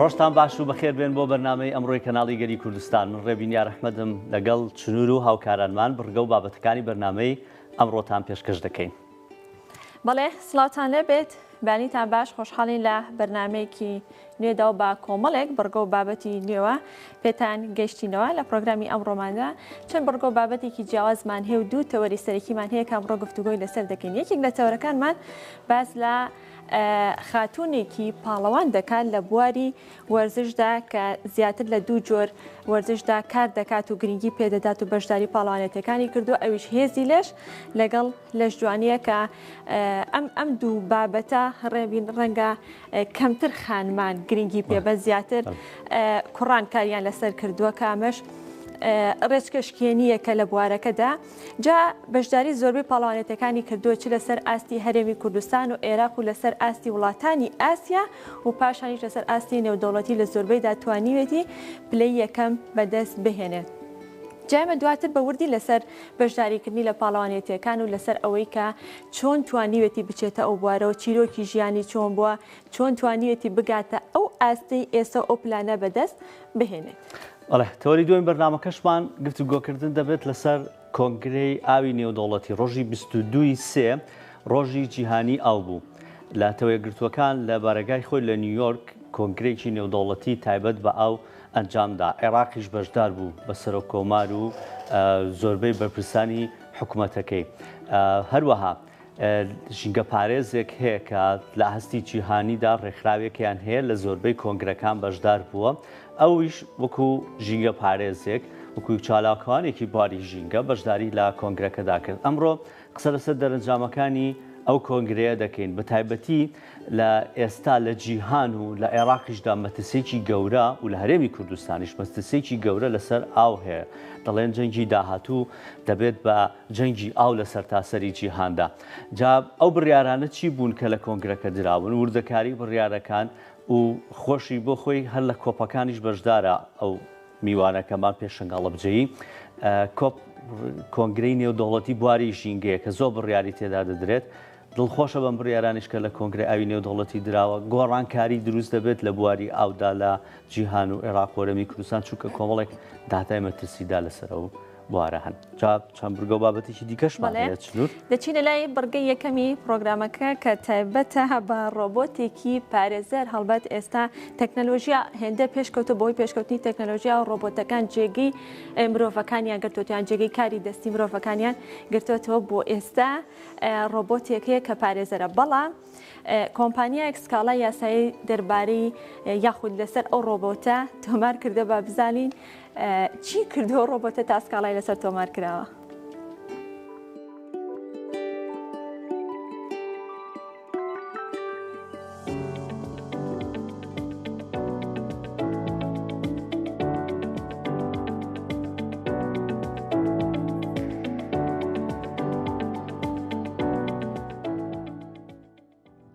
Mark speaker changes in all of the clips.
Speaker 1: ڕۆژتان باش و بەخێر بێن بۆ بەرنمەی ئەمڕۆی کەناڵی گەلی کوردستان من ڕێبین یارحمەدم لەگەڵ چنور و هاوکارانمان بڕگە و بابەتەکانی بەرنمەی ئەمڕۆتان پێشکەش دەکەین. بەڵێ
Speaker 2: سڵاوتان لێ بێت بانیتان باش خۆشحاڵین لە بەرنمەیەکی نوێداو بە کۆمەڵێک بڕگە و بابەتی نوێوە پێتان گەیشتینەوە لە پرۆگرامی ئەمڕۆماندا چەند بڕگۆ بابەتێکی جیاوازمان هەیە و دوو تەوەری سەرەکیمان هەیە کامڕۆ گفتوگۆی لەسەر دەکەین یەکێک لە تەوەرەکانمان باس لە خاتونێکی پاڵەوان دەکات لە بواری وەرزشدا کە زیاتر لە دوو جۆر وەرزشدا کار دەکات و گرنگی پێدەدات و بەشداری پاڵوانێتەکانی کردو ئەویش هێزی لەش لەگەڵ لەش جوانیە کە ئەم ئەم دوو بابەتە ڕێبین ڕەنگە کەمتر خانمان گرنگی پێ بە زیاتر کوڕان کاریان لەسەر کردووە کامەش ڕێچکەشکێنیە کە لە بوارەکەدا جا بەشداری زۆربەی پاڵوانێتەکانی کردووە چ لەسەر ئاستی هەرێمی کوردستان و عێراق و لەسەر ئاستی وڵاتانی ئاسیا و پاشانیش لەسەر ئاستی نێودەوڵەتی لە زۆربەی داتوانیوێتی پلەی یەکەم بەدەست بهێنێت. جایمە دواتر بە وردی لەسەر بەشداریکردنی لە پاڵەوانێتیەکان و لەسەر ئەوەی کە چۆن توانیوێتی بچێتە ئەو بوارەوە، چیرۆکی ژیانی چۆن بووە، چۆن توانیوێتی بگاتە ئەو ئاستەی ئێستا و ئەو پلانە بەدەست بهێنێت. بەڵێ، تەوەری
Speaker 1: دووەمی بەرنامەکەشمان گفتوگۆکردن دەبێت لەسەر کۆنگرەی ئاوی نێودەوڵەتی، ڕۆژی بیست و دوو ی سێ ڕۆژی جیهانی ئاو بوو، لاتەوەیەکگرتووەکان لە بارەگای خۆی لە نیویۆرک کۆنگرەیەکی نێودەوڵەتی تایبەت بە ئاو ئەنجامدا، عێراقیش بەشدار بوو بە سەرۆک کۆمار و زۆربەی بەرپرسانی حکومەتەکەی هەروەها ژینگە پارێزێک هەیە کە لە هەستی جیهانیدا ڕێکخراوێکیان هەیە لە زۆربەی کۆنگرەکان بەشدار بووە ئەویش وەکو ژینگە پارێزێک وەکو چالاکوانێکی باری ژینگە بەشداری لە کۆنگرەکەدا کرد ئەمڕۆ قسە لەسەر دەرەنجامەکانی ئەو کۆنگرەیە دەکەین بە تایبەتی لە ئێستا لە جیهان و لە عێراقیشدا مەترسییەکی گەورە و لە هەرێمی کوردستانیش مەترسییەکی گەورە لەسەر ئاو هەیە. دەڵێن جەنگی داهاتوو دەبێت بە جەنگی ئاو لە سەرتاسەری جیهاندا. جا ئەو بڕیارانە چی بوون کە لە کۆنگرەکە دراون؟ وردەکاری بڕیارەکان و خۆشی بۆ خۆی هەر لە کۆپەکانیش بەشدارە ئەو میوانەکەمان پێشەنگ هەڵەبجەیی. کۆپ کۆنگرەی نێودەوڵەتی بواری ژینگەیە کە زۆر بڕیاری تێدا دەدرێت. دڵخۆشە بەم بڕیارانەش کە لە کۆنگرەی ئاوی نێودەوڵەتی دراوە، گۆڕانکاری دروست دەبێت لە بواری ئاودا لە جیهان و عێراق وەرەمی کوردستان، چونکە کۆمەڵێک داتای مەترسیدار لەسەر ئەو بوارە هەن. جا چەند بڕگە و بابەتێکی دیکەشمان هەیە. بەڵێ، چنوور؟ دەچینە لای بڕگەی
Speaker 2: یەکەمی پڕۆگرامەکە کە تایبەتە بە ڕۆبۆتێکی پارێزەر، هەڵبەت ئێستا تەکنەلۆژیا هێندە پێشکەوتووە بەهۆی پێشکەوتنی تەکنەلۆژیا و ڕۆبۆتەکان جێگەی مرۆڤەکانیان گرتووەتەوە یان جێگەی کاری دەستی مرۆڤەکانیان گرتووەتەوە بۆ ئێستا، ڕۆبۆتێک هەیە کە پارێزەرە بەڵام کۆمپانیایەک سکاڵای یاسایی دەربارەی یاخود لەسەر ئەو ڕۆبۆتە تۆمار کردە با بزانین چی کردەوە ڕۆبۆتە تا سکاڵای لەسەر تۆمار کراوە.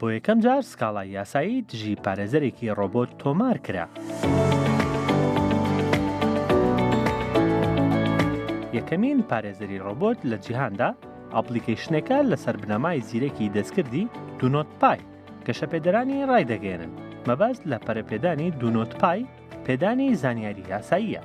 Speaker 3: بۆ یەکەم جار سکاڵای یاسایی دژی پارێزەرێکی ڕۆبۆت تۆمار کرا. یەکەمین پارێزەری ڕۆبۆت لە جیهاندا ئەپڵیکەیشنەکە لەسەر بنەمای زیرەکی دەستکردی دونۆت پای گەشەپێدەرانی ڕایدەگەێنن مەبەست لە پەرەپێدانی دونۆت پای پێدانی زانیاری یاساییە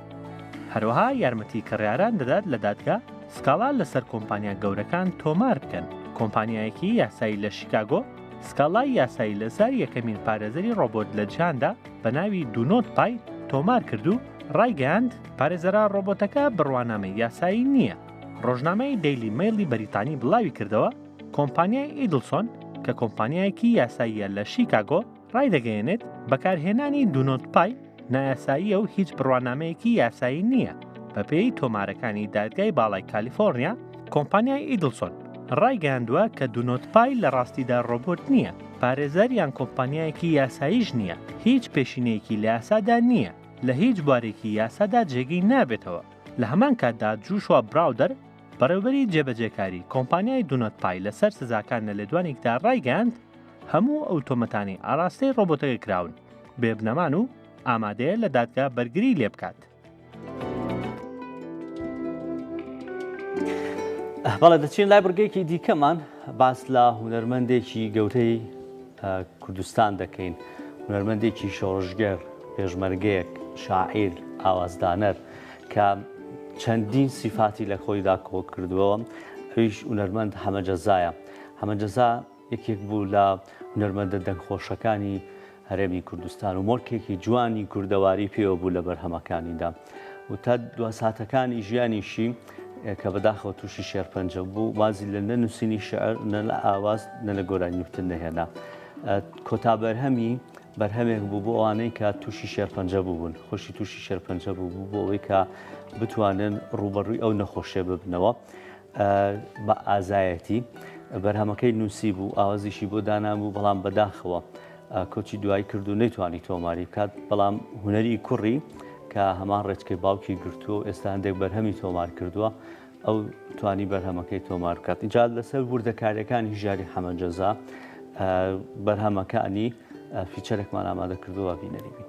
Speaker 3: هەروەها یارمەتی کڕیاران دەدات لە دادگا سکاڵا لەسەر کۆمپانیا گەورەکان تۆمار بکەن کۆمپانیایەکی یاسایی لە شیکاگۆ سکاڵای یاسایی لەسەر یەکەمین پارێزەری ڕۆبۆت لە جیهاندا بە ناوی دونۆت پای تۆمار کرد و ڕایگەاند پارێزەرە ڕۆبۆتەکە بڕوانامەی یاسایی نییە ڕۆژنامەی دەیلی مەیلی بەریتانی بڵاوی کردەوە کۆمپانیای ئیدلسۆن کە کۆمپانیایەکی یاساییە لە شیکاگۆ ڕایدەگەیەنێت بەکارهێنانی دونۆت پای نایاساییە و هیچ بڕوانامەیەکی یاسایی نییە بەپێی تۆمارەکانی دادگای باڵای کالیفۆرنیا کۆمپانیای ئیدلسۆن ڕایگەاندووە کە دونۆت پای لە ڕاستیدا ڕۆبۆت نییە پارێزەریان کۆمپانیایەکی یاساییش نییە هیچ پێشینەیەکی لە یاسادا نییە لە هیچ بوارێکی یاسادا جێگەی نابێتەوە لە هەمان کاتدا جوشوا براودەر بەڕێوبەری جێبەجێکاری کۆمپانیای دونەت پای لەسەر سزاکان لە لێدوانێکدا ڕایگەیاند هەموو ئەو تۆمەتانەی ئاراستەی ڕۆبۆتەکە کراون بێ بنەمان و ئامادەیە لە دادگا بەرگری لێ بکات.
Speaker 1: بەڵێ دەچین لای بڕگەیەکی دیکەمان باس لە هونەرمەندێکی گەورەی کوردستان دەکەین. هونەرمەندێکی شۆڕشگێڕ، پێشمەرگەیەک، شاعیر، ئاوازدانەر کە چەندین سیفاتی لە خۆیدا کۆ کردووە، ئەویش هونەرمەند حەمە جەزایە. حەمە جەزا یەکێک بوو لە هونەرمەندە دەنگخۆشەکانی هەرێمی کوردستان و مۆرکێکی جوانی کوردەواری پێوە بوو لە بەرهەمەکانیدا. و تا دوا ساتەکانی ژیانیشی کە بەداخەوە تووشی شێرپەنجە بوو وازی لە نە نووسینی شعر نە لە ئاواز نە لە گۆرانی وتن نەهێنا کۆتا بەرهەمی بەرهەمێک بوو بۆ ئەوانەی کە تووشی شێرپەنجە بوون خۆشی تووشی شێرپەنجە بوو بوو بۆ ئەوەی کە بتوانن ڕوبەڕووی ئەو نەخۆشێ ببنەوە بە ئازایەتی بەرهەمەکەی نووسی بوو ئاوازیشی بۆ دانان بوو بەڵام بەداخەوە کۆچی دوایی کرد و نەیتوانی تۆماری بکات، بەڵام هونەری کوڕی کە هەمان ڕێچکەی باوکی گرتووە و ئێستا هەندێک بەرهەمی تۆمار کردووە، ئەو توانی بەرهەمەکەی تۆمار بکات. ئینجا لەسەر وردەکارییەکانی ژیاری حەمە جەزا بەرهەمەکانی فیچەرێکمان ئامادە کردووە بینەری بین.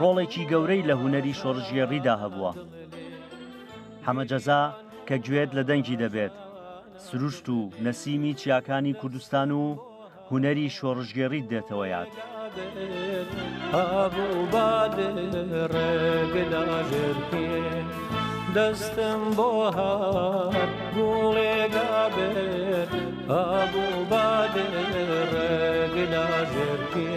Speaker 1: ڕۆڵێکی گەورەی لە هونەری شۆڕشگێڕیدا هەبووە. حەمە جەزا کە گوێت لە دەنگی دەبێت، سروشت و نەسیمی چیاکانی کوردستان و هونەری شۆڕشگێڕیت دێتەوە یاد.
Speaker 4: دەستم بۆ گوڵێگابێت ئابوو بادێ ڕێگلاژێرکێ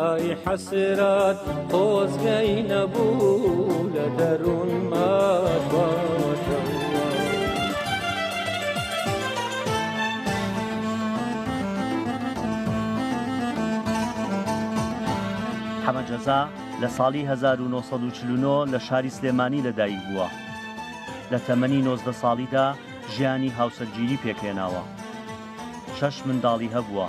Speaker 1: ئای حەسرەت خۆزگەی نەبوو لە دەروونما حەمە جەزا لە ساڵی 1940 لە شاری سلێمانی لەدایک بووە لە تەمەنی نۆزدە ساڵیدا ژیانی هاوسەرگیری پێکهێناوە شەش منداڵی هەبووە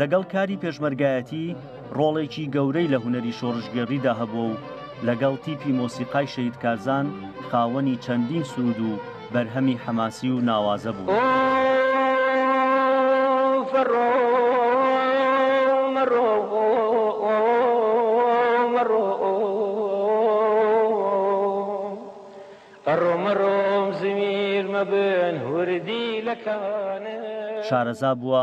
Speaker 1: لەگەڵ کاری پێشمەرگایەتی ڕۆڵێکی گەورەی لە هونەری شۆڕشگێڕیدا هەبووە و لەگەڵ تیپی مۆسیقای شەهید کارزان خاوەنی چەندین سروود و بەرهەمی حەماسی و ناوازە بووە.
Speaker 4: شارەزا
Speaker 1: بووە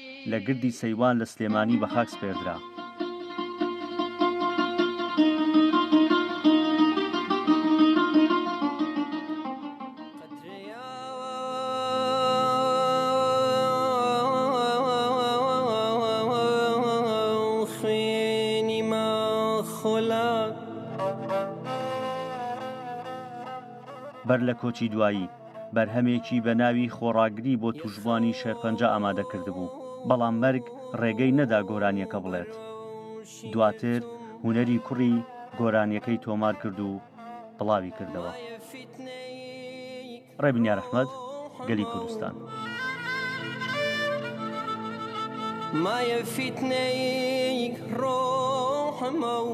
Speaker 1: لە گردی سەیوان لە سلێمانی بە خاک سپێردرا. بەر لە کۆچی دوایی، بەرهەمێکی بە ناوی خۆڕاگری بۆ تووشبووانی شێرپەنجە ئامادە کردبوو، بەڵام مەرگ ڕێگەی نەدا گۆرانییەکە بڵێت. دواتر هونەری کوڕی گۆرانییەکەی تۆمار کرد و بڵاوی کردەوە. ڕێبنیار ئەحمەد، گەلی کوردستان.
Speaker 4: مایە فیتنەیک ڕۆحمە و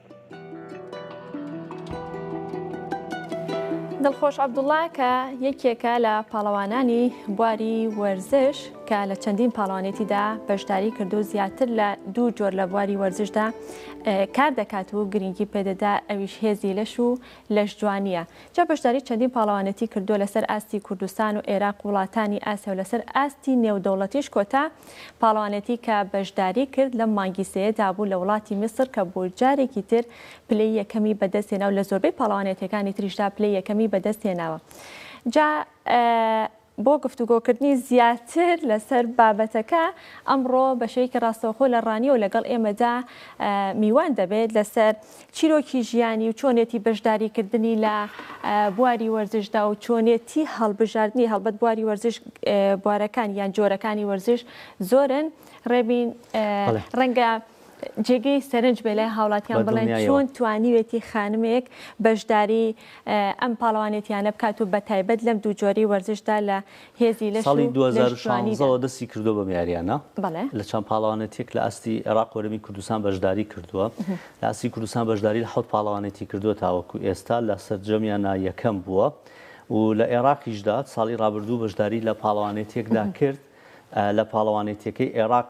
Speaker 2: دڵخۆش عەبدوڵڵا کە یەکێکە لە پاڵەوانانی بواری وەرزش کە لە چەندین پاڵەوانێتیدا بەشداری کرد و زیاتر لە دوو جۆر لە بواری وەرزشدا کار دەکات و گرنگی پێدەدا ئەویش هێزی لەش و لەش جوانیە جا بەشداری چەندین پاڵەوانێتی کردو لەسەر ئاستی کوردستان و عێراق وڵاتانی ئاسیا و لەسەر ئاستی نێودەوڵەتیش کۆتا پاڵەوانێتی کە بەشداری کرد لەم مانگی سێیەدا بوو لە وڵاتی میسر کە بۆ جارێکی تر پلەی یەکەمی بەدەستهێنا و لە زۆربەی پاڵەوانێتیەکانی تریشدا پلەی یەکەمی بەدەستهێناوە جا بۆ گفتوگۆکردنی زیاتر لەسەر بابەتەکە ئەمڕۆ بەشەیەکی ڕاستەوخۆ لە ڕانیەوە لەگەڵ ئێمەدا میوان دەبێت لەسەر چیرۆکی ژیانی و چۆنێتی بەشداریکردنی لە بواری وەرزشدا و چۆنێتی هەڵبژاردنی هەڵبەت بواری وەرزش بوارەکان یان جۆرەکانی وەرزش زۆرن ڕێبین ڕەنگە جێگەی سەرنج بێ لای هاوڵاتیان بڵێن چۆن توانیوێتی خانمێک بەشداری ئەم پاڵەوانێتیانە بکات و بە تایبەت لەم دوو جۆری وەرزشدا لە هێزی لەش و ساڵی دوو هەزار و لەش جوانی شانزە
Speaker 1: دا. وە دەستی کردووە بەم یاریانە بەڵێ. لە چەند پاڵەوانێتیەک لە ئاستی عێراق وەرەمی کوردستان بەشداری کردووە لە ئاستی کوردستان بەشداری لە حەوت پاڵەوانێتی کردووە تاوەکو ئێستا لە سەرجەمیانا یەکەم بووە و لە ئێراقیشدا ساڵی ڕابردوو بەشداری لە پاڵەوانێتیەکدا کرد لە پاڵەوانێتیەکەی ئێراق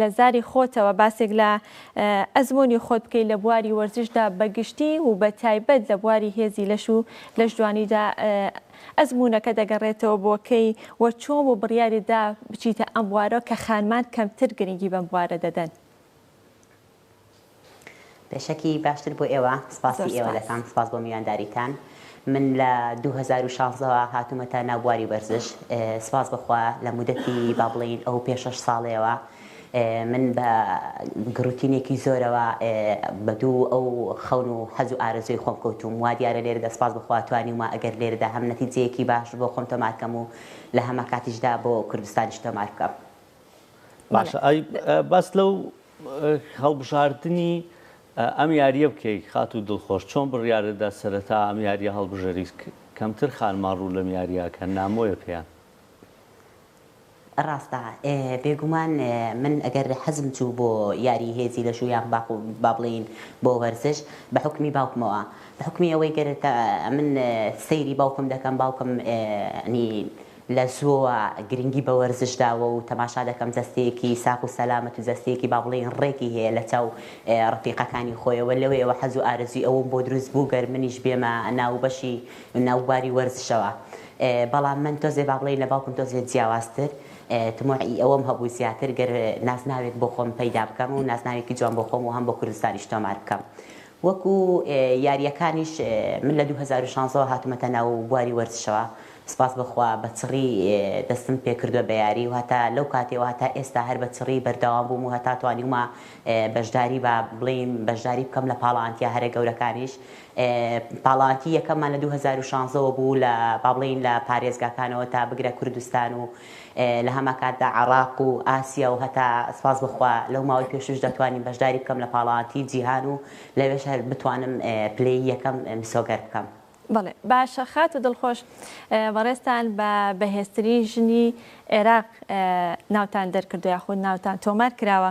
Speaker 2: لە زاری خۆتەوە باسێک لە ئەزموونی خۆت بکەیت لە بواری وەرزشدا بە گشتی و بە تایبەت لە بواری هێزی لەش و لەشجوانیدا ئەزموونەکە دەگەڕێتەوە بۆ کەی و چۆن و بڕیاریت دا بچیتە ئەم بوارەوە کە خانمان کەمتر گرنگی بەم بوارە دەدەن؟
Speaker 5: پێشەکی باشتر بۆ ئێوە سپاسی زۆر ئێوە سپاس دەکەم سپاس بۆ میوانداریتان من لە دوو هەزار و شازدە وە هاتوومەتە ناو بواری وەرزش ئێ، سپاس بەخوا لە مودەتی با بڵێین ئەو پێ شەش ساڵەیەوە ئێ، من بە گڕوتینێکی زۆرەوە ئێ، بە دوو ئەو خەون و حەز و ئارەزووی خۆم کەوتووم وا دیارە لێرەدا سپاس بەخوا توانیومە ئەگەر لێرەدا هەم نەتیجەیەکی باش بۆ خۆم تۆمار کەم و لە هەمانکاتیشدا بۆ کوردستانیش تۆمار بکەم بەڵێ باشە
Speaker 1: ئەی باست لەو هەڵبژاردنی ئەم یاریە بکەی خاتو دڵخۆش چۆن بڕیارتدا سەرەتا ئەم یاریە هەڵبژەریت کەمتر خانمان ڕوو لەم یاریە ئەکەن نامۆیە پێیان.
Speaker 5: ڕاستە بێگومان من ئەگەر حەزم چوو بۆ یاری هێزی لەش و یان با بڵێین بۆ وەرزش بە حوکمی باوکمەوە بە حوکمی ئەوەی گەر من سەیری باوکم دەکەم باوکم ینی لە زووەوە گرنگی بە وەرزش داوە و تەماشا دەکەم جەستەیەکی ساغ و سەلامەت و جەستەیەکی با بڵێین ڕێکی هەیە لە چاو ڕەفیقەکانی خۆیەوە، لەوێیەوە حەز و ئارەزووی ئەوەم بۆ دروست بوو گەر منیش بێمە ناو بەشی ناو بواری وەرزشەوە بەڵام من تۆزێ با بڵێین لە باوکم تۆزێ جیاوازتر تموعی ئەوەم هەبوو زیاتر گەر نازناوێک بۆ خۆم پەیدا بکەم و نازناوێکی جوان بۆ خۆم و هەم بۆ کوردستانیش تۆمار بکەم وەکو یاریەکانیش من لە دوو هەزار و شانزە وە هاتومەتە ناو بواری وەرزشەوە سپاس بۆ خوا بە چڕی دەستم پێکردوە بە یاری و هەتا لەو کاتەوە هەتا ئێستا هەر بە چڕی بەردەوام بووم و هەتا توانیومە بەشداری با بڵیم بەشداری بکەم لە پاڵاوانتیە هەرە گەورەکانیش پاڵاوانتی یەکەممان لە دوو هەزار و شانزە وە بوو لە با بڵێین لە پارێزگاکانەوە تا بگرە کوردستان و لە هەمانکاتدا عێڕاق و ئاسیا و هەتا سوپاس بۆ خوا لەو ماوەی پێشووش دەتوانیم بەشداری بکەم لە پاڵەوانتیی جیهان و لەوێش هەر بتوانم پلەی یەکەم مسۆگەر بکەم. بەڵێ باشە
Speaker 2: خاتوو دڵخۆش، بەڕێزتان بە بەهێزترین ژنی عێراق ناوتان دەرکردووە یاخود ناوتان تۆمار کراوە،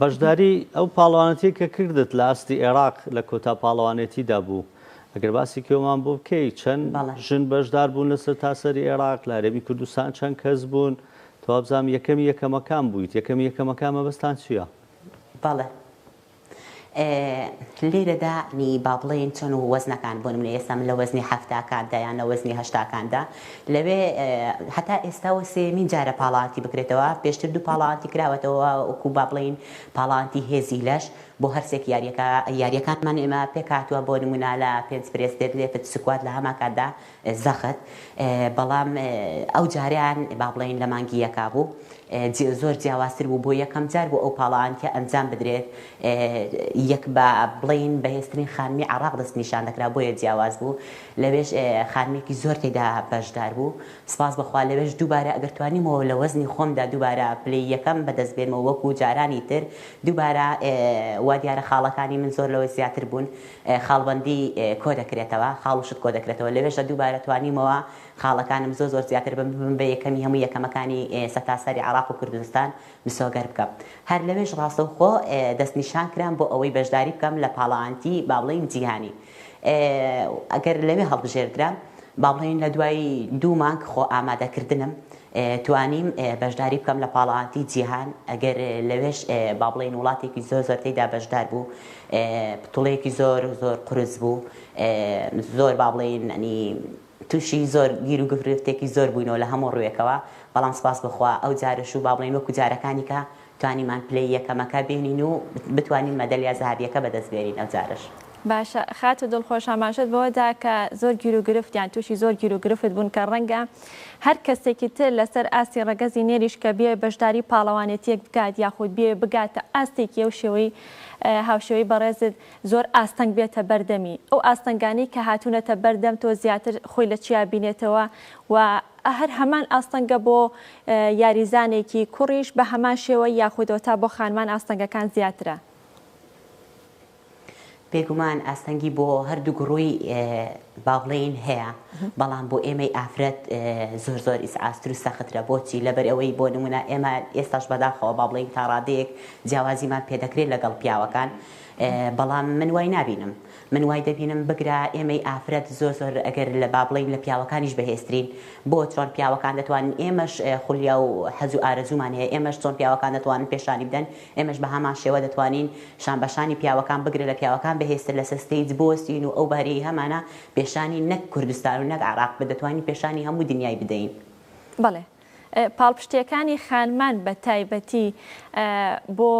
Speaker 1: بەشداری ئەو پاڵەوانێتیە کە کردت لە ئاستی ئێراق لە کۆتا پاڵەوانێتیدا بوو ئەگەر باسی کێومان بۆ بکەی چەند ژن بەشدار بوون لە سەرتاسەری ئێراق لە هەرێمی کوردستان چەند کەس بوون توابزانم یەکەمی یەکەمەکان بوویت یەکەمی یەکەمەکان مەبەستان چییە؟ بەڵێ
Speaker 5: لێرەدا ی با بڵێین چۆن و وەزنەکان بۆ نمونە ئێستا من لە وەزنی حەفتاکاندا یان لە وەزنی هەشتاکاندا لەوێ هەتا ئێستا و سێمین جارە پاڵاتی بکرێتەوە پێشتر دوو پاڵاتی کراوەتەوە وەکو با بڵێین پاڵانتی هێزی لەش بۆ هەرسێک یاریەکە یاریەکانمان ئێمە پێکاتوە بۆ نمونە لە پێنج پرێس دێت لێتت سکوات لە هەماکاتدا زەخت، بەڵام ئەو جارەیان با بڵێین لە مانگی یەکا بوو، زۆر جیاوازتر بوو، بۆ یەکەم جار بوو ئەو پاڵاوانتیە ئەنجام بدرێت، یەک با بڵێین بەهێزترین خانمی عێڕاق دەستنیشان دەکرا، بۆیە جیاواز بوو، لەوێش خانمێکی زۆر تێدا بەشدار بوو، سوپاس بەخوا لەوێش دووبارە ئەگەر توانیمەوە لە وەزنی خۆمدا دووبارە پلەی یەکەم بەدەست بێنمەوە وەکو جارانی تر، دووبارە وا دیارە خاڵەکانی من زۆر لەوە زیاتر بوون، خاڵبەندی کۆدەکرێتەوە خاڵ و شت کۆدەکرێتەوە لەوێشدا دووبارە توانیومەوە خاڵەکانم زۆر زۆر زیاتر بم ببم بە یەکەمی هەموو یەکەمەکانی سەتاسەری عێراق و کوردستان مسۆگەر بکەم هەر لەوێش ڕاستەوخۆ دەست نیشان کرام بۆ ئەوەی بەشداری بکەم لە پاڵاانتی با بڵێین جیهانی ئەگەر لەوێ هەڵبژێردرام با بڵێین لە دوای دوو مانگ خۆ ئامادەکردنم توانیم بەشداری بکەم لە پاڵەوانتیی جیهان، ئەگەر لەوێش با بڵێین وڵاتێکی زۆر زۆر تێیدا بەشدار بوو، بتوڵەیەکی زۆر زۆر قورس بوو، زۆر با بڵێین ئەنی تووشی زۆر گیر و گرفتێکی زۆر بووینەوە لە هەموو ڕووێکەوە، بەڵام سوپاس بە خوا ئەو جارەش و با بڵێین وەکوو جارەکانی کە توانیمان پلەی یەکەمەکە بێنین و بتوانین مەدەلیا زەهابیەکە بەدەست بێنین ئەوجارەش. باشە خاتو
Speaker 2: دڵخۆش ئاماژەت بەوەدا کە زۆر گیرو گرفت یان توشی زۆر گیرو گرفت بوون کە ڕەنگە هەر کەسێکی تر لەسەر ئاستی ڕەگەزی نێریش کە بیەوێ بەشداری پاڵەوانێتیەک بکات یاخود بیەوێ بگاتە ئاستێکی ئەو شێوەی هاوشێوەی بەڕێزت زۆر ئاستەنگ بێتە بەر دەمی ئەو ئاستەنگانەی کە هاتونەتە بەر دەم تۆ زیاتر خۆی لە چیا بینێتەوە و ە هەر هەمان ئاستەنگە بۆ یاریزانێکی کوڕیش بە هەمان شێوە یاخود تا بۆ خانمان ئاستەنگەکان زیاترە؟
Speaker 5: بێگومان ئاستەنگی بۆ هەردوو گوڕوی با بڵێین هەیە بەڵام بۆ ئێمەی ئافرەت زۆر زۆر ئیسعاستر و سەخترە بۆچی لەبەر ئەوەی بۆ نمونە ئێمە ئێستاش بەداخەوە با بڵێین تا ڕادەیەک جیاوازیمان پێدەکرێت لەگەڵ پیاوەکان بەڵام من وای نابینم من وای دەبینم بگرە ئێمەی ئافرەت زۆر زۆر گەر لە با بڵێین لە پیاوەکانیش بەهێزترین بۆ چۆن پیاوەکان دەتوانن ئێمەش خولیا و حەز و ئارەزوومان هەیە ئێمەش چۆن پیاوەکان دەتوانن پێشانی بدەن ئێمەش بە هەمان شێوە دەتوانین شان بە شانی پیاوەکان بگرە لە پیاوەکان بەهێزتر لەسەر ستەیج بوەستین و ئەو بارەی هەمانە پێشانی نەک کوردستان و نەک عێراق بە دەتوانین پێشانی هەموو دنیای بدەین. بەڵێ
Speaker 2: پاڵپشتیەکانی خانمان بە تایبەتی بۆ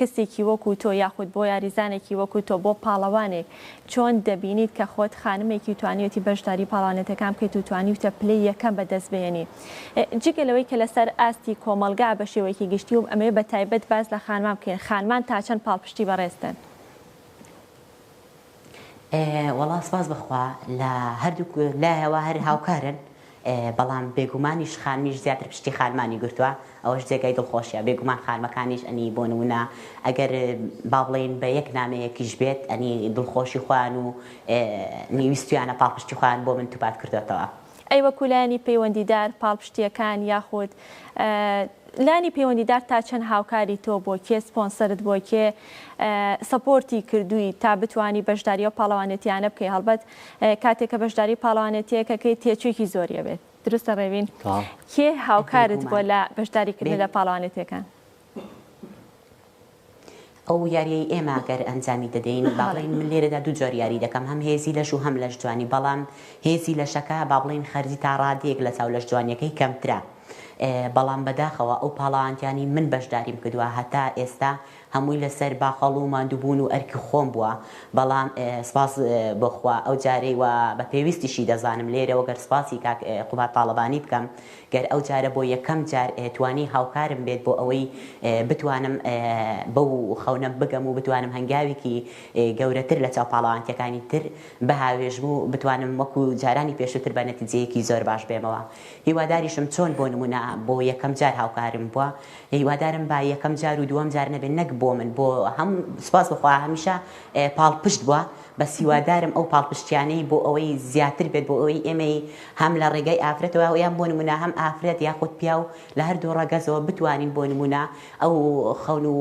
Speaker 2: کەسێکی وەکو تۆ یاخود بۆ یاریزانێکی وەکو تۆ بۆ پاڵەوانێک چۆن دەبینیت کە خۆت خانمێکی و توانیویەتی بەشداری پاڵەوانێتەکان بکەیت و توانیوتە پلەی یەکەم بەدەست بهێنی جگە لەوەی کە لەسەر ئاستی کۆمەڵگا بەشێوەیەکی گشتی و ئەمەوێ بەتایبەت باس لە خانمان بکەین خانمان تاچەند پاڵپشتی بەڕێزتن؟
Speaker 5: وەڵا سپاس بەخوا لە هەردووک لایەوە هەر هاوکارن بەڵام بێگومانیش خانمیش زیاتر پشتی خانمانی گرتووە ئەوەش جێگای دڵخۆشیە بێگومان خانمەکانیش ئەنی بۆ نمونە ئەگەر با بڵێن بە یەک نامەیەکیش بێت ئەنی دڵخۆشی خۆیان و نیویستویانە پاڵپشتی خۆیان بۆ من توپات کردوێتەوە. ئەی وەکو لایەنی
Speaker 2: پەیوەندیدار پاڵپشتییەکان یاخود لانی پەیوەندیدار تا چەند هاوکاری تۆ بۆ کێ سپۆنسەرت بۆ کێ سەپۆرتی کردووی تا بتوانی بەشداری ئەو پاڵەوانێتیانە بکەی هەڵبەت کاتێک کە بەشداری پاڵەوانێتیەک ئەکەی تێچووێکی زۆری ئەبێت دروستە ڕێوین کێ هاوکارت بووە لە بەشداری کردن لە پاڵەوانێتیەکان؟
Speaker 5: ئەو یاریەی ئێمە گەر ئەنجامی دەدەین با بڵێین من لێرەدا دوو جۆر یاری دەکەم هەم هێزی لەش و هەم لەش جوانی بەڵام هێزی لەشەکە با بڵێین خەرجی تا ڕادەیەک لە چاو لەش جوانیەکەی کەمترە بەڵام بەداخەوە ئەو پاڵەوانتیانی من بەشداریم کردوە هەتا ئێستا هەمووی لەسەر باخەڵ و ماندوبون و ئەرکی خۆم بوە بەڵام سپاس بۆ خوا ئەو جارەی وە بە پێویستیشی دەزانم لێرەوە گەر سپاسی کاک قوباد تاڵەبانی بکەم گەر ئەو جارە بۆ یەکەم جار توانی هاوکارم بێت بۆ ئەوەی بتوانم بەو خەونە بگەم و بتوانم هەنگاویکی گەورەتر لە چاو پاڵەوانتیەکانی تر بهاوێژم و بتوانم وەکو جارانی پێشوتر بە نەتیجەیەکی زۆر باش بێمەوە هیواداریشم چۆن بۆ نمونە بۆ یەکەم جار هاوکارم بوە هیوادارم با یەکەم جار و دوەم جار نەبێت نەک بۆ من بۆ هەمو سوپاس بۆ خوا هەمیشە پاڵپشت بوە بەس هیوادارم ئەو پاڵپشتیانەی بۆ ئەوەی زیاتر بێت بۆ ئەوەی ئێمەی هەم لە ڕێگای ئافرەتەوە یان بۆ نمونە هەم ئافرەت یاخود پیاو لە هەردوو ڕەگەزەوە بتوانین بۆ نمونە ئەو خەون و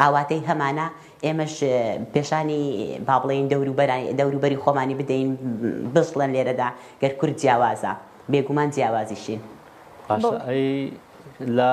Speaker 5: ئاواتەی هەمانە ئێمەش پێشانی با بڵێین دەوروبەرانی دەوروبەری خۆمانی بدەین بزڵێن لێرەدا گەر کورد جیاوازە بێگومان جیاوازیشین باشە ئەی
Speaker 1: لە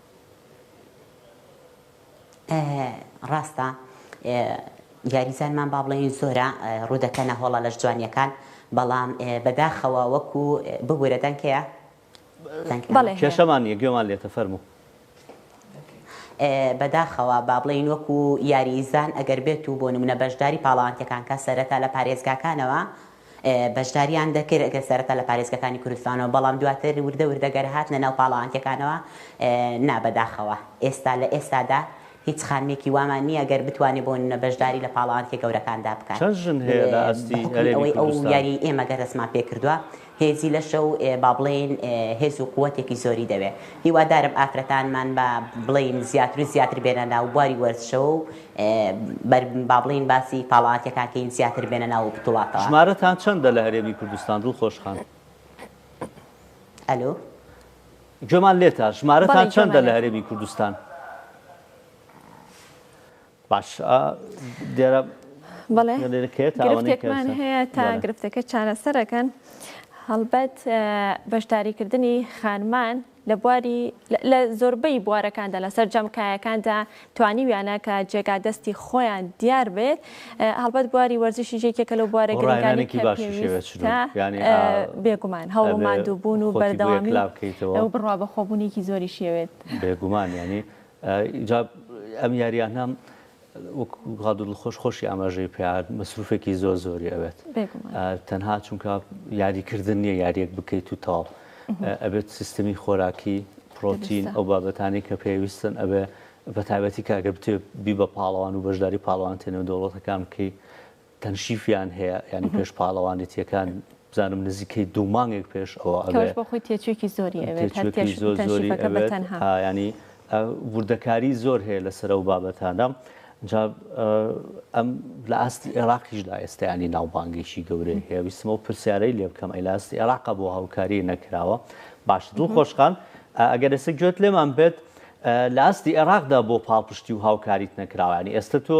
Speaker 5: ڕاستە یاریزانمان با بڵێین زۆرە ڕوودەکەنە هۆڵە لەش جوانیەکان بەڵام بەداخەوە وەکو ببوورە دەنکەیە کێشەمان
Speaker 1: نیە گوێمان لێتە فەرمو
Speaker 5: بەداخەوە با بڵین وەکو یاریزان ئەگەر بێت و بۆ نمونە بەشداری پاڵانتەکان کە سەرەتا لە پارێزگاکانەوە بەشداریان دەکرد سەرەتا لە پارێزگەکانی کوردستانەوە بەڵام دواتر وردە وردە گەر هاتنە ناو پاڵەوانتیەکانەوە نا بەداخەوە ئێستا لە ئێستادا هیچ خانمێکی وامان نیە گەر بتوانێ بۆ نمونە بەشداری لە پاڵەوانتیە گەورەکاندا بکات بەحوکمی ئەوەی ئەو یاری ئێمە گەر دەستمان پێ کردوە هێزی لەشە و با بڵێین هێز و قوەتێکی زۆری دەوێ هیوادارم ئافرەتانمان با بڵێین زیاتر و زیاتر بێنە ناو بواری وەرزشەوە و بەر با بڵێین باسی پاڵاوتەکان کەین زیاتر بێنە ناو بتوڵاتەوە. ژمارەتان چەندە لە
Speaker 1: هەرێمی کوردستان دڵخۆش خان؟ ئەلۆ. گوێمان
Speaker 5: لێتە
Speaker 1: ژمارەتان چەندە لە هەرێمی کوردستان؟ باش ئا دێرە بەڵێ
Speaker 2: گرفتێکمان
Speaker 1: هەیە
Speaker 2: تا گرفتەکە چارەسەرەکەن هەڵبەت بەشداریکردنی خانمان لە بواری لە زۆربەی بوارەکاندا لە سەرجەم کایەکاندا توانیویانە کە جێگا دەستی خۆیان دیار بێت هەڵبەت بواری وەرزشیش یەکێکە لەو بوارە گرنگانەی کە پێویستە بێگومان هەوڵ و ماندووبوون و بەردەوامی ئەو بڕوا بەخۆبوونێکی زۆریشی هەبێت بێگومان
Speaker 1: یانی ئەم یاریانە وەک غادو دڵخۆش خۆشی ئاماژەی پێیا مەسروفێکی زۆر زۆری ئەوێت تەنها چونکە یاریکردن نییە یاریەک بکەیت و تاڵ ئەبێت سیستمی خۆراکی پرۆتین ئەو بابەتانی کە پێویستن ئەبێ بە تایبەتی کاگە بتێ بی بە پاڵەوان و بەشداری پاڵوان تێنە دەوڵەتەکان بکەی تەنشیفیان هەیە یانی پێش پاڵەوانێتیەکان بزانم نزیکەی دوو مانگێک پێش ئەوە ئەبێت بۆ خۆی تێچوویەکی
Speaker 2: زۆری ئەوێت هەرتێش زۆر زۆری
Speaker 1: ئەبێت ینی وردەکاری زۆر هەیە لەسەر ئەو بابەتانە ئەم لە ئاستی عێراقیشدا ئێستایانی ناوبانگێکی گەورەی هەیە ویستمەوە پرسیارەی لێ بکەم ئەی لە ئاستی عێراق بۆ هاوکاری نەکراوە باش دڵ خۆشخان ئەگەر ئێستا گوێت لێمان بێت لە ئاستی عێراقدا بۆ پاڵپشتی و هاوکاریت نەکراوانی ئێستا تۆ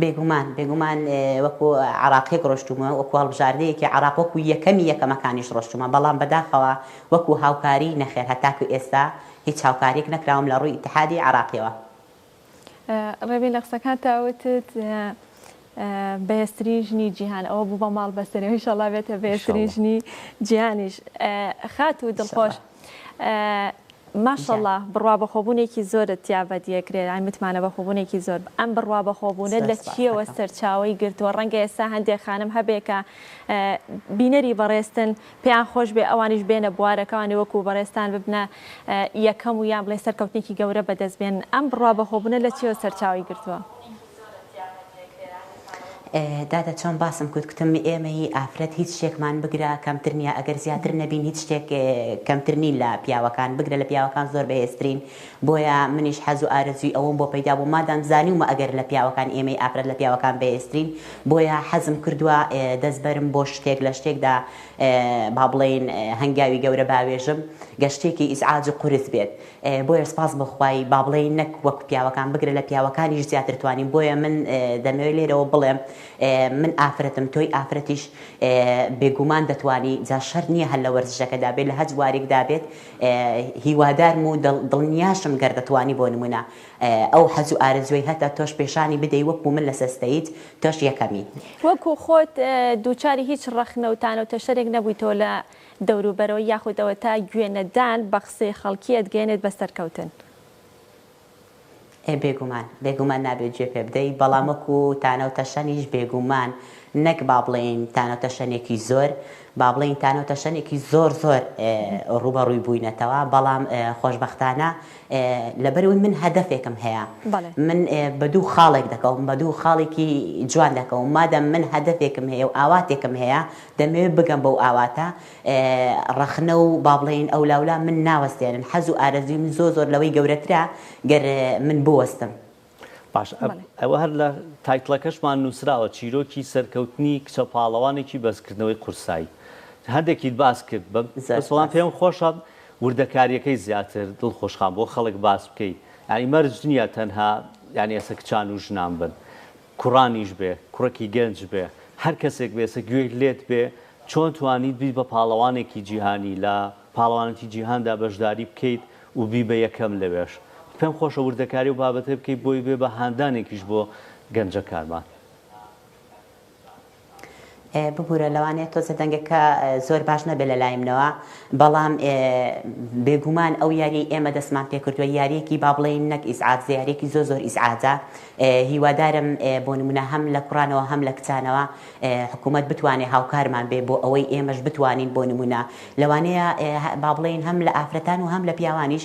Speaker 5: بێگومان بێگومان وەکو عەراقیەک ڕۆشتومە وەکو هەڵبژاردەیەکی عەراق وەکو یەکەمی یەکەمەکانیش ڕۆشتومە بەڵام بەداخەوە وەکو هاوکاری نەخێر هەتاکو ئێستا هیچ هاوکاریەک نەکراوم لە ڕوی ئیتحادی عەراقیەوە.
Speaker 2: ڕێبین لە قسەکانتا وتت بەێزترین ژنی جیهان ئەوە بوو بە ماڵ بەستێنەوە ئینشەڵا بێتە بەێزترین ژنی جیهانیش خاتوو دڵخۆش. ماشااللە بڕوابەخۆبوونێکی زۆرت تیا بەدیەکرێت یانی متمانە بەخۆبوونێکی زۆر ئەم بڕوابەخۆبوونە لە چیەوە سەرچاوەی گرتووە ڕەنگە ئێستا هەندێک خانم هەبێ کە بینەری بەڕێزتن پێیان خۆش بێ ئەوانیش بێنە بوارەکەوانی وەکو بەڕێزتان ببنە یەکەم و یان بڵێ سەرکەوتنێکی گەورە بەدەست بێن ئەم بڕوابەخۆبوونە لە چیەوە سەرچاوەی گرتووە؟
Speaker 5: دادە چۆن باسم کوت کوتم ئێمە هی ئافرەت هیچ شتێکمان بگرە کەمتر نیە ئەگەر زیاتر نەبین هیچ شتێک کەمتر نین لە پیاوەکان بگرە لە پیاوەکان زۆر بەهێزترین بۆیە منیش حەز و ئارەزوی ئەوەم بۆ پەیدا بوو مادام زانیومە ئەگەر لە پیاوەکان ئێمەی ئافرەت لە پیاوەکان بەهێزترین بۆیە حەزم کردوە دەست بەرم بۆ شتێک لە شتێکدا با بڵێین هەنگاوی گەورە باوێژم گە شتێکی ئیزعاج و قورس بێت بۆیە سپاس بۆ خوای با بڵێین نەک وەک پیاوەکان بگرە لە پیاوەکانیش زیاتر توانیم بۆیە من دەمەوێت لێرەوە بڵێم من ئافرەتم تۆی ئافرەتیش بێگومان دەتوانی جا شەر نییە هەر لە وەرزشەکەدا بێت لە هەج وارێکدا بێت هیوادارم و دڵنیاشم گەر دەتوانی بۆ نمونە ئەو حەز و ئارەزوی هەتە تۆش پێشانی بدەی وەکو من لە سەستەیت تۆش یەکەمی وەکو خۆت
Speaker 2: دووچاری هیچ ڕەخنە و تانە و تەشەرێک نەبوویتەوە لە دەوروبەرەوە یاخود ئەوەتا گوێ نەدان بە قسەی خەڵکی ئەتگەیەنێت بە سەرکەوتن. ئێ
Speaker 5: بێگومان، بێگومان نابێت گوێ پێ بدەیت، بەڵام وەکو تانە و تەشەنیش بێگومان نەک با بڵێین تانە و تەشەنێکی زۆر، با بڵێین تانە و تەشەنێکی زۆر زۆر ڕووبەڕووی بووینەتەوە، بەڵام خۆشبەختانە لەبەر ئەوەی من هەدەفێکم هەیە، من بە دوو خاڵێک دەکەوم، بە دوو خاڵێکی جوان دەکەوم، مادەم من هەدەفێکم هەیە و ئاواتێکم هەیە، دەمەوێت بگەم بەو ئاواتە ڕەخنە و با بڵێین ئەولاولا من ناوەستێنن، حەز و ئارەزووی من زۆر زۆر لەوەی گەورەترە گەر من بوەستم. باشە
Speaker 1: ئەوە هەر لە تایتڵەکەشمان نووسراوە چیرۆکی سەرکەوتنی کچە پاڵەوانێکی بەرزکردنەوەی قورسایی هەندێکیت باس کرد بەسڵام پێم خۆشە وردەکاریەکەی زیاتر دڵ خۆشخان بۆ خەڵک باس بکەی یانی مەرج نییە تەنها یانی ئێسە کچان و ژنان بن کوڕانیش بێ کوڕەکی گەنج بێ هەر کەسێک بێ سە گوێی لێت بێ چۆن توانیت بیت بە پاڵەوانێکی جیهانی لە پاڵەوانەتی جیهاندا بەشداری بکەیت و بی بە یەکەم لەوێش پێم خۆشە وردەکاری ئەو بابەتەی بکەیت بۆی بێ بە هاندانێکیش بۆ گەنجەکانمان.
Speaker 5: ببورە لەوانەیە تۆزێ دەنگەکە زۆر باش نەبێت لەلایمنەوە بەڵام بێگومان ئەو یاریەی ئێمە دەستمان پێکردووە یاریەکی با بڵێین نەک ئیسعات زیارێکی زۆر زۆر ئیسعاتە هیوادارم بۆ نمونە هەم لە کوڕانەوە هەم لە کچانەوە حکوومەت بتوانێت هاوکارمان بێ بۆ ئەوەی ئێمەش بتوانین بۆ نمونە لەوانەیە با بڵێین هەم لە ئافرەتان و هەم لە پیاوانیش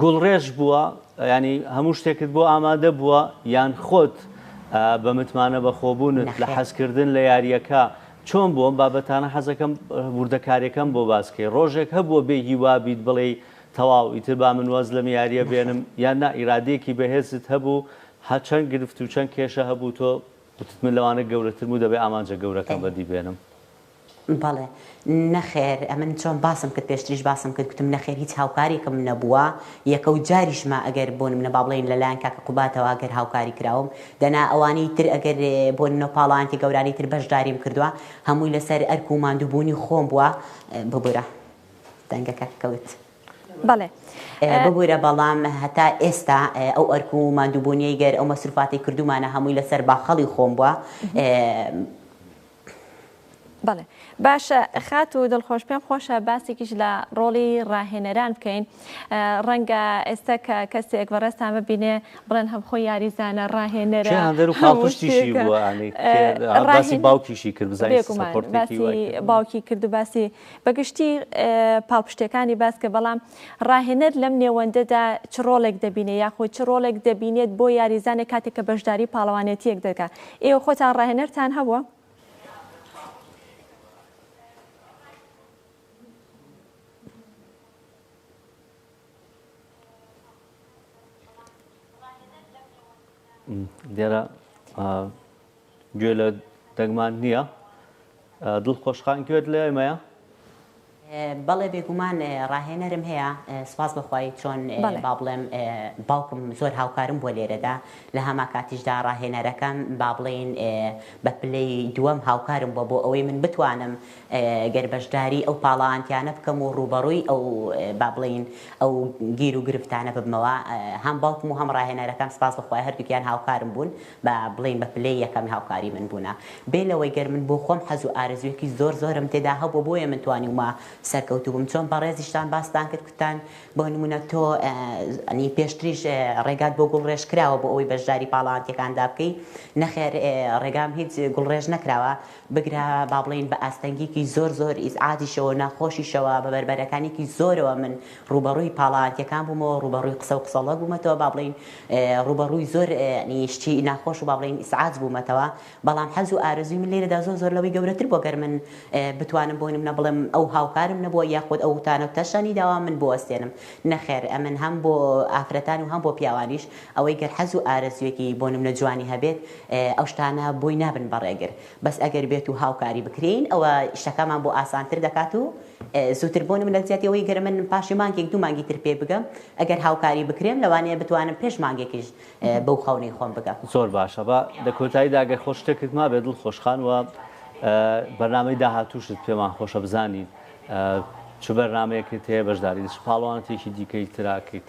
Speaker 1: گوڵڕێژ بووە یانی هەموو شتێکت بۆ ئامادە بووە یان خۆت بە متمانە بەخۆبوونت لە نەخێر حەزکردن لە یارییەکە چۆن بوو؟ ئەم بابەتانە حەزەکەم وردەکارییەکەم بۆ باس کەی ڕۆژێک هەبووە بێ هیوا بیت بڵێی تەواو ئیتر با من واز لەم یارییە نەخێر بێنم یان نا ئیرادەیەکی بەهێزت هەبوو هە چەند گرفت و چەند کێشە هەبوو تۆ وتت من لەوانە گەورەترم و دەبێ ئامانجە گەورەکەم بەدی بێنم؟ بەڵێ.
Speaker 5: نەخێر ئەمن چۆن باسم کرد پێشتریش باسم کرد گوتم نەخێر هیچ هاوکاریکم نەبووە یەکەو جاریشمە ئەگەر بۆ نمونە بابڵێین لەلایەن کاکە قوباتەوە ئەگەر هاوکاری کراوم دەنا ئەوانەی تر ئەگەر بۆ نمونە پاڵەوانێتی گەورانی تر بەشداریم کردوە هەمووی لەسەر ئەرک و ماندوو بوونی خۆم بووە ببورە دەنگەکە کەوت. بەڵێ
Speaker 2: ببورە
Speaker 5: بەڵام هەتا ئێستا ئەو ئەرک و ماندووبوونیەی گەر ئەو مەسروفاتی کردومانە هەمووی لەسەر باخەڵی خۆم بووە
Speaker 2: بەڵێ باشە خات و دڵخۆش پێم خۆشە باسێکیش لە ڕۆڵی ڕاهێنەران بکەین ڕەنگە ئێستا کە کەسێک بەڕێستان ببینێ بڵێن هەم خۆی یاریزانە ڕاهێنەرە باوکیشی
Speaker 1: کرد
Speaker 2: باوکی کرد و باسی بەگشتی پاڵپشتەکانی باس کە بەڵام ڕاهێنەر لەم نێوەندەدا چ ڕۆڵێک دەبینێ یاخود چ ڕۆڵێک دەبینێت بۆ یاریزانێک کاتێک کە بەشداری پاڵەوانێتییەک دەکا؟ ئێوە خۆتان ڕاهێنەرتان هەبووە؟
Speaker 1: لێرە گوێ لە دەنگمان نییە. دڵ خۆش خان گوێت لە ئێمەیە؟
Speaker 5: بەڵێ بێگومان ڕاهێنەرم هەیە سوپاس بەخوای چۆن با بڵێم باوکم زۆر هاوکارم بۆ لێرەدا لە هەما کاتیشدا ڕاهێنەرەکەم با بڵێین بە پلەی دووەم هاوکارم بۆ بۆ ئەوەی من بتوانم گەر بەشداری ئەو پاڵاوانتیانە بکەم و ڕووبەڕووی ئەو با بڵێین ئەو گیر و گرفتانە ببمەوە هەم باوکم و هەم ڕاهێنەرەکەم سپاس بە خوای هەردووکیان هاوکارم بوون با بڵێین بە پلەی یەکەمی هاوکاری من بوونە بێ لەوەی گەر من بۆ خۆم حەز و ئارەزوویەکی زۆر زۆرم تێدا هەبوو بۆیە من توانیومە سەرکەوتوو بم چۆن بەڕێزیشتان باستان کرد کوتان بۆ نموونە تۆ ئەنی پێشتریش ڕێگات بۆ گوڵڕێژ کراوە بۆ ئەوەی بەشداری پاڵاوانتیەکاندا بکەی نەخێر ڕێگام هیچ گوڵڕێژ نەکراوە بگرە با بڵێین بە ئاستەنگیکی زۆر زۆر ئیزعاجیشەوە و ناخۆشیشەوە بە بەربەرەکانیکی زۆرەوە من ڕووبەڕووی پاڵەوانتیەکان بوومەوە ڕووبەڕووی قسە و قسەڵۆک بوومەتەوە با بڵێین ڕووبەڕووی زۆر ی شتی ناخۆش و با بڵێین ئیسعاج بوومەتەوە بەڵام حەز و ئارەزووی من لێرەدا زۆر زۆر لەوەی گەورەتر بووە گەر من بتوانم بۆی نمونە بڵێم ئەو هاوکارم نەبووە یاخود ئەو تانە و تەشتانی داوە من بوەستێنم نەخێر ئەمن هەم بۆ ئافرەتان و هەم بۆ پیاوانیش ئەوەی گەر حەز و ئارەزویەکی بۆ نمنە جوانی هەبێت ئەو شتانە بۆی نابن بە ڕێگر بەس ئەگەر بێت و هاوکاری بکرێین ئەوە شتەکانمان بۆ ئاسانتر دەکات و زوتر بۆ نمنە جیاتی ئەوەی گەر من پاشی مانگێک دوو مانگی تر پێ بگەم ئەگەر هاوکاری بکرێم لەوانەیە بتوانم پێش مانگێکیش بەو خەونەی خۆم بگەم. زۆر باشە با
Speaker 1: لە کۆتاییدا گەر خۆت شتێکت مابێت دڵخۆش خان وە بەرنامەی داهاتووشت پێمان خۆشە بزانین چ بەرنامەیەکت هەیە بەشداری چ پاڵەوانێتیەکی دیکەی تراکەیت.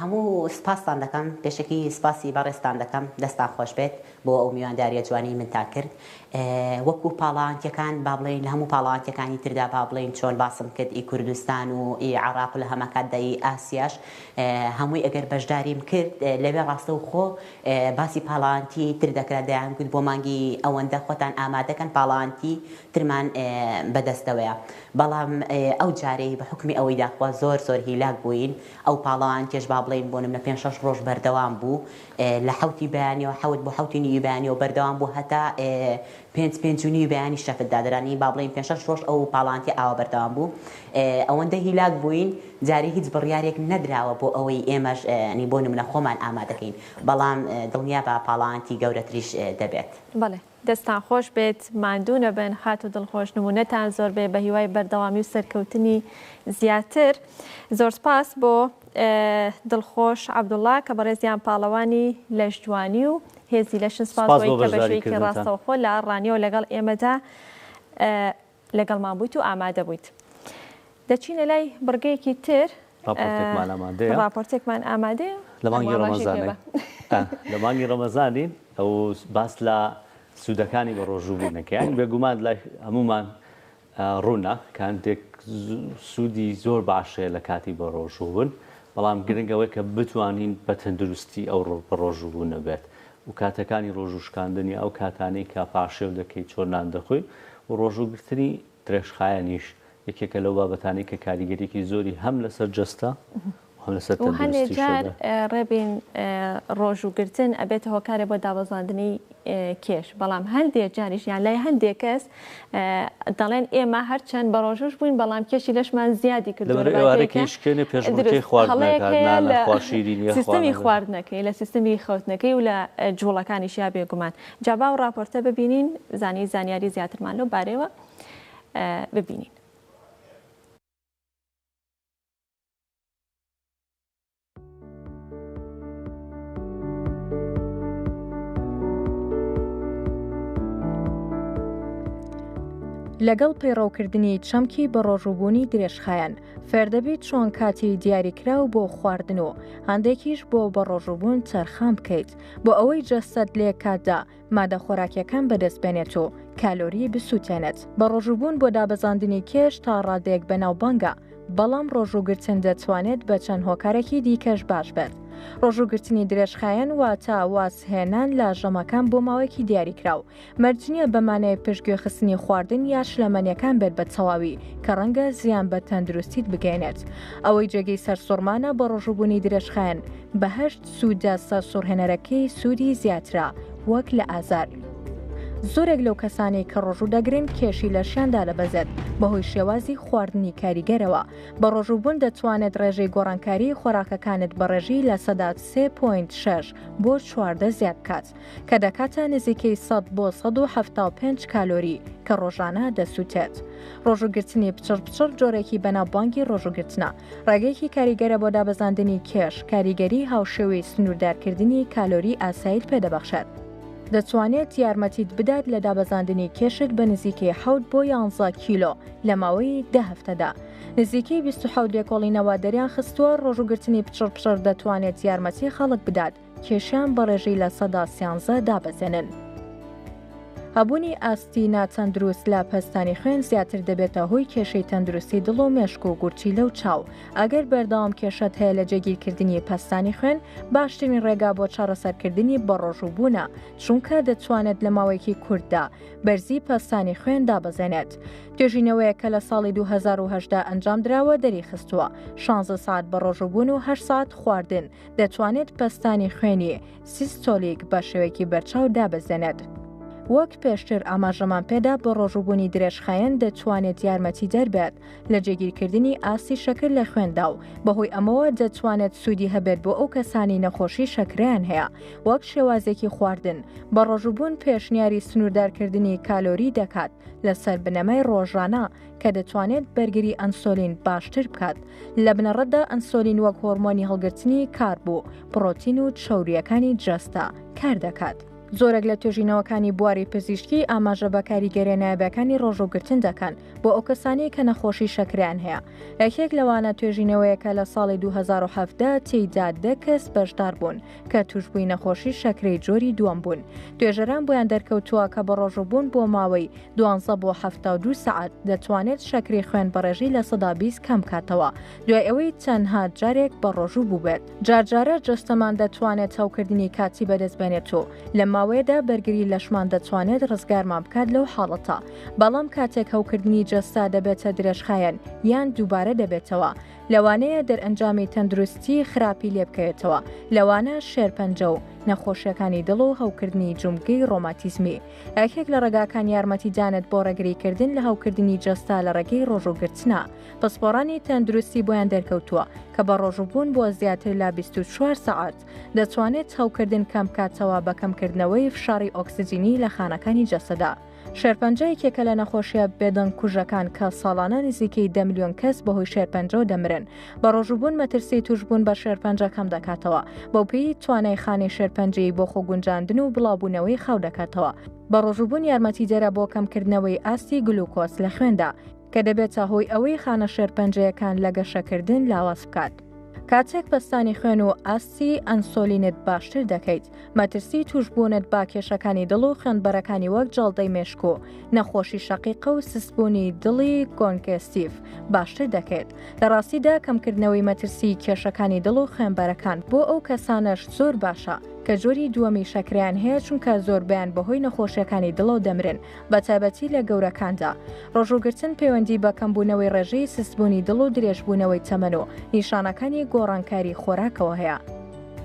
Speaker 5: هەموو سپاستان دەکەم پێشەکی سپاسی بەڕێزتان دەکەم دەستان خۆش بێت بۆ ئەو میوانداریە جوانەی منتان کرد وەکو پاڵەوانتیەکان با بڵێین لە هەموو پاڵەوانتیەکانی تردا با بڵێین چۆن باسم کرد ئی کوردستان و ئی عراق و لە هەماکاتدا ئی ئاسیاش هەمووی ئەگەر بەشداریم کرد لەوێ ڕاستەوخۆ باسی پاڵەوانتی تر دەکرا دەیان گوت بۆ مانگی ئەوەندە خۆتان ئامادەکەن پاڵەوانتی ترمان بەدەستەوەیە بەڵام ئەو جارەی بە حوکمی ئەوەی داخوا زۆر زۆر هیلاک بووین ئەو پاڵەوان کێش با بڵێین بۆ نمونە پێنج شەش ڕۆژ بەردەوام بوو لە حەوتی بەیانیەوە حەوت بۆ حەوتی نیوی بەیانیەوە بەردەوام بوو هەتا پێنج پێنج و نیوی بەیانی شەفت دادرانی با بڵێین پێنج شەش ڕۆژ ئەو پاڵەوان تێ ئاوا بەردەوام بوو ئەوەندە هیلاک بووین جارێ هیچ بڕیارێک نەدراوە بۆ ئەوەی ئێمەش بۆ نمونە خۆمان ئامادەکەین بەڵام دڵنیابە پاڵەوانتی گەورەتریش دەبێت. بەڵێ. دەستتان
Speaker 2: خۆش بێت ماندوو نەبن خاتو دڵخۆش نمونەتان زۆر بێ بەهیوای بەردەوامی و سەرکەوتنی زیاتر زۆر سپاس بۆ دڵخۆش عبداللە کە بەڕێزیان پاڵەوانی لەشجوانی و هێزی لەشن سپاس بۆ بەشێکی ڕاستەوخۆ لە ڕانیەوە لەگەڵ ئێمەدا لەگەڵمان بوویت و ئامادە بوویت. دەچینە لای بڕگەیەکی تر. ڕاپۆرتێکمان ئامادەیە. ڕاپۆرتێکمان ئامادەیە. لە مانگی
Speaker 1: ڕەمەزانین. لە مانگی ڕەمەزانین و باس لە سوودەکانی بە ڕۆژوو بوون دەکەین. بێ گومان لای هەموومان ڕوونە کە هەندێک سوودی زۆر باش هەیە لە کاتی بە ڕۆژوو بوون. بەڵام گرنگ ئەوەیە کە بتوانین بە تەندروستی ئەو بە ڕۆژوو بوونە بێت. و کاتەکانی ڕۆژوو شکاندنی ئەو کاتانەی کە پارشێو دەکەیت چۆن نان دەخۆی و ڕۆژوو گرتنی درێژخایەنیش یەکێکە لەو بابەتانەی کە کاریگەریەکی زۆری هەم لەسەر جەستە و هەم لەسەر تەندروستی
Speaker 2: شۆ دارێت. وهەنێ جار ڕێبین ڕۆژوو گرتن ئەبێتە هۆکارێ بۆ دابەزاندنی کێش بەڵام هەندێ جاریش یان لای هەندێ کەس دەڵێن ئێمە هەرچەند بەڕۆژووش بووین بەڵام کێشی لەشمان زیادی کردوەرەێکسیستمی خواردنەکەی لە سیستمی خەوتنەکەی و لە جوڵەکانیش یا بێگومان جابا و راپۆرتە ببینین زانی زانیاری زیاترمان لەو بارەوە ببینین.
Speaker 6: لەگەڵ پەیڕەوکردنی چەمکی بەڕۆژوبوونی درێژخایەن فێردەبیت چۆن کاتی دیاریکراو بۆ خواردن و هەندێکیش بۆ بەڕۆژوبوون تەرخان بکەیت بۆ ئەوەی جەستەت لێ کاتدا مادە خۆراکیەکان بەدەست بێنێت و کالۆری بسووتێنێت بە ڕۆژووبوون بۆ دابەزاندنی کێش تا ڕادەیەک بەناو بانگە بەڵام ڕۆژووگرتن دەتوانێت بە چەند هۆکارێکی دیکەش باش بێت ڕۆژووگرتنی درێژخایەن واتە وازهێنان لە ژەمەکان بۆ ماوەیەکی دیاریکراو مەرجنیە بەمانەیە پشتگوێ خستنی خواردن یا شلەمەنیەکان بێت بە تەواوی کە ڕەنگە زیان بە تەندروستیت بگەێنێت ئەوەی جێگەی سەرسوڕمانە بە ڕۆژووبوونی درێژخایەن بەهشت سوودە سەرسوڕهێنەرەکەی سوودی زیاترە وەک لە ئازار. زۆرێک لەو کەسانەی کە ڕۆژوو دەگرن کێشی لەشیان دادەبەزێت بەهۆی شێوازی خواردنی کاریگەرەوە بە ڕۆژووبوون دەتوانێت ڕێژەی گۆڕانکاری خۆراکەکانت بە ڕێژی لە سەدا 3.6 بۆ چواردە زیاد بکات کە دەکاتە نزیکەی 100 بۆ 1970 کالۆری کە ڕۆژانە دەسووتێت ڕۆژوگرتنی پچڕ پچڕ جۆرێکی بەناوبانگی ڕۆژوگرتنە ڕێگەیەکی کاریگەرە بۆ دابەزاندنی کێش، کاریگەری هاوشێوەی سنووردارکردنی کالۆری ئاسایت پێدەبەخشێت. دەتوانێت یارمەتیت بدات لە دابەزاندنی کێشت بە نزیکەی حەوت بۆ یانزە کیلۆ لە ماوەی دە هەفتەدا. نزیکەی بیست و حەوت لێکۆڵینەوە دەریان خستووە ڕۆژووگرتنی پچڕپچڕ دەتوانێت یارمەتی خەڵک بدات کێشیان بە ڕێژەی لە سەدا سیانزە دابەزێنن. هەبوونی ئاستی ناتەندروست لە پەستانی خوێن زیاتر دەبێتە هۆی کێشەی تەندروستی دڵ و مێشک و گورچی لەو چاو ئەگەر بەردەوام کێشەت هەیە لە جێگیرکردنی پەستانی خوێن باشترین ڕێگا بۆ چارەسەرکردنی بەڕۆژووبوونە چونکە دەتوانێت لە ماوەیەکی کورددا بەرزی پەستانی خوێن دابەزێنێت توێژینەوەیە کە لە ساڵی 2010 ئەنجام دراوە دەری خستووە 16 ساعت بە ڕۆژووبوون و هە ساعت خواردن دەتوانێت پەستانی خوێنی سیستۆلیک بە شێوەیەکی بەرچاو دابەزێنێت. وەک پێشتر ئاماژەمان پێدا بە ڕۆژوبوونی درێژخایەن دەتوانێت یارمەتی دەربێت لە جێگیرکردنی ئاستی شەکر لە خوێندا و بەهۆی ئەمەوە دەتوانێت سوودی هەبێت بۆ ئەو کەسانی نەخۆشی شەکریان هەیە وەک شێوازێکی خواردن بە ڕۆژوبوون پێشنیاری سنووردارکردنی کالۆری دەکات لەسەر بنەمای ڕۆژانە کە دەتوانێت بەرگری ئەنسۆلین باشتر بکات لە بنەڕەتدا ئەنسۆلین وەک هۆرمۆنی هەڵگرتنی کار بوو پڕۆتین و چاوریەکانی جەستە کار دەکات. زۆرێک لە توێژینەوەکانی بواری پزیشکی ئاماژە بە کاریگەرە نایابەکانی ڕۆژوگرتن دەکەن بۆ ئەو کەسانی کە نەخۆشی شەکریان هەیە یەکێک لەوانە توێژینەوەیەکە لە ساڵی 2017 تێیدا دە کەس بەشدار بوون کە توشبووی نەخۆشی شەکرەی جۆری دووەم بوون توێژەران بۆیان دەرکەوتووە کە بە ڕۆژوبوون بۆ ماوەی دوانزە بۆ هەفتا دوو سعات دەتوانێت شەکری خوێن بەڕێژی لە سەدا بیست کەم کاتەوە دوای ئەوەی تەنها جارێک بە ڕۆژوو بووبێت جارجارە جەستەمان دەتوانێت هەوکردنی کاتی بەدەست بێنێت و لە ماوەیەدا بەرگری لەشمان دەتوانێت ڕزگارمان بکات لەو حاڵەتە بەڵام کاتێک هەوکردنی جەستا دەبێتە درێژخایەن یان دووبارە دەبێتەوە لەوانەیە دەرئەنجامی تەندروستی خراپی لێبکەوێتەوە، لەوانە شێرپەنجە و نەخۆشیەکانی دڵ و هەوکردنی جومگەی ڕۆماتیزمی. یەکێک لە ڕێگاکان یارمەتیدانت بۆ ڕێگریکردن لە هەوکردنی جەستە لە ڕێگەی ڕۆژوو گرتنە. پسپۆڕانی تەندروستی بۆیان دەرکەوتووە کە بە ڕۆژووبوون بۆ زیاتر لە بیست و چوار سەعات دەتوانێت هەوکردن کەمبکاتەوە بە کەمکردنەوەی فشاڕی ئۆکسجینی لە خانەکانی جەستەدا. شێرپەنجە یەکێکە لە نەخۆشیە بێدەنگ کوژەکان کە ساڵانە نزیکەی دە ملیۆن کەس بەهۆی شێرپەنجەوە دەمرن بە ڕۆژوبوون مەترسی توشبوون بە شێرپەنجە کەم دەکاتەوە بەوپێی توانای خانەی شێرپەنجەی بۆ خۆ گونجاندن و بڵاوبوونەوەی خاو دەکاتەوە بە ڕۆژوبوون یارمەتی دەرە بۆ کەمکردنەوەی ئاستی گلوکۆس لە خوێندا کە دەبێتە هۆی ئەوەی خانە شێرپەنجەیەکان لە گەشەکردن لاواز بکات. کاتێک پەستانی خوێن و ئاستی ئەنسۆلینت باشتر دەکەیت مەترسی توشبوونت با کێشەکانی دڵ و خوێندبەرەکانی وەک جاڵدەی مێشک و نەخۆشی شەقیقە و سسبوونی دڵی گۆنگستیف باشتر دەکەیت لە ڕاستیدا کەمکردنەوەی مەترسی کێشەکانی دڵ و خوێنبەرەکان بۆ ئەو کەسانەش زۆر باشە کە جۆری دووەمی شەکریان هەیە چونکە زۆربیان بەهۆی نەخۆشیەکانی دڵەوە دەمرن بە تایبەتی لە گەورەکاندا. ڕۆژووگرتن پەیوەندی بە کەمبوونەوەی ڕێژەی سستبوونی دڵ و درێژبوونەوەی تەمەن و نیشانەکانی گۆڕانکاری خۆراکەوە هەیە.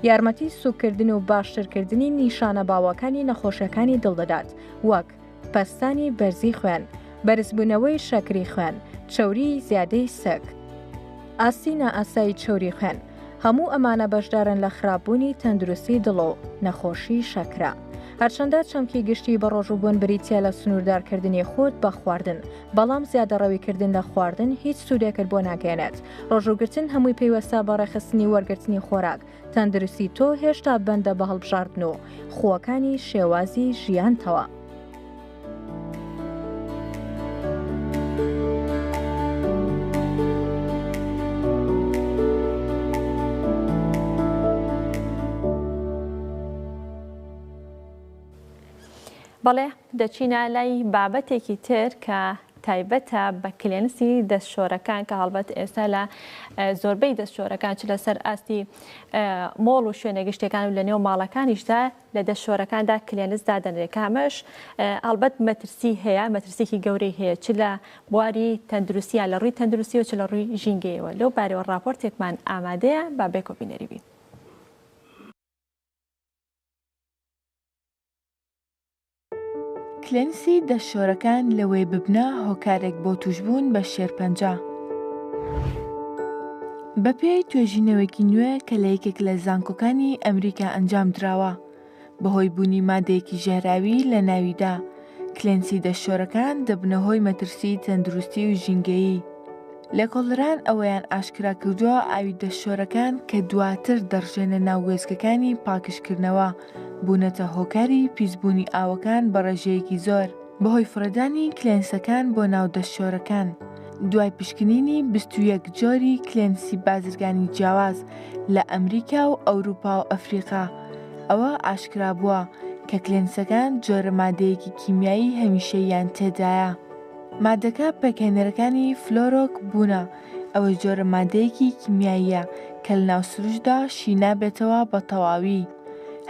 Speaker 6: یارمەتی سووککردن و باشترکردنی نیشانە باوەکانی نەخۆشیەکانی دڵ دەدات وەک، پەستانی بەرزی خوێن، بەرزبوونەوەی شەکری خوێن، چەوریی زیادەی سک، ئاستی نائاسایی چەوری خوێن. هەموو ئەمانە بەشدارن لە خراپبوونی تەندروستی دڵ و نەخۆشی شەکرە. هەرچەندە چەمکی گشتی بەڕۆژوبوون بریتە لە سنووردارکردنی خۆت بە خواردن بەڵام زیادەڕەویکردن لە خواردن هیچ سوودێکت بۆ ناگەێنێت ڕۆژوگرتن هەمووی پەیوەستە بە ڕێخستنی وەرگرتنی خۆراک تەندروستی تۆ هێشتا بەندە بە هەڵبژاردن و خووەکانی شێوازی ژیانتەوە.
Speaker 2: بەڵێ دەچینە لای بابەتێکی تر کە تایبەتە بە کلێنسی دەستشۆرەکان کە هەڵبەت ئێستا لە زۆربەی دەستشۆرەکان چ لەسەر ئاستی مۆڵ و شوێنە گشتەکان و لە نێو ماڵەکانیشدا لە دە شۆرەکاندا کلێنس دادەنرێت کە ئەمەش ئەڵبەت مەترسی هەیە، مەترسیەکی گەورەی هەیە چ لە بواری تەندروستی یا لە ڕووی تەندروستی و چ لە ڕووی ژینگەیەوە. لەو بارەوە ڕاپۆرتێکمان ئامادەیە با بێکۆ بینەری بین.
Speaker 7: کلێنسی دەست شۆرەکان لەوەی ببنە هۆکارێک بۆ تووشبوون بە شێرپەنجە. بەپێی توێژینەوەیەکی نوێ کە لە یەکێک لە زانکۆکانی ئەمریکا ئەنجام دراوە، بەهۆی بوونی مادەیەکی ژەهراوی لە ناویدا، کلێنسی دەست شۆرەکان دەبنە هۆی مەترسیی تەندروستی و ژینگەیی. لێکۆڵەران ئەوەیان ئاشکرا کردووە ئاوی دەست شۆرەکان کە دواتر دەڕژێنە ناو وێستگەکانی پاکژکردنەوە، بوونەتە هۆکاری پیسبوونی ئاوەکان بە ڕێژەیەکی زۆر، بەهۆی فڕێدانی کلێنسەکان بۆ ناو دەستشۆرەکان، دوای پشکنینی بیست و یەک جۆری کلێنسی بازرگانی جیاواز لە ئەمریکا و ئەوروپا و ئەفریقا، ئەوە ئاشکرابووە کە کلێنسەکان جۆرە مادەیەکی کیمیایی هەمیشەییان تێدایە. مادەکە پێکهێنەرەکانی فلۆرۆک بوونە، ئەوە جۆرە مادەیەکی کیمیاییە کە لە ناو سروشتدا شی نابێتەوە بە تەواوی،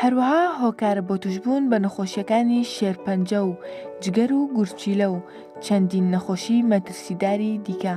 Speaker 7: هەروەها هۆکارە بۆ تووشبوون بە نەخۆشییەکانی شێرپەنجە و جگەر و گورچیلە و چەندین نەخۆشیی مەترسیداری دیکە.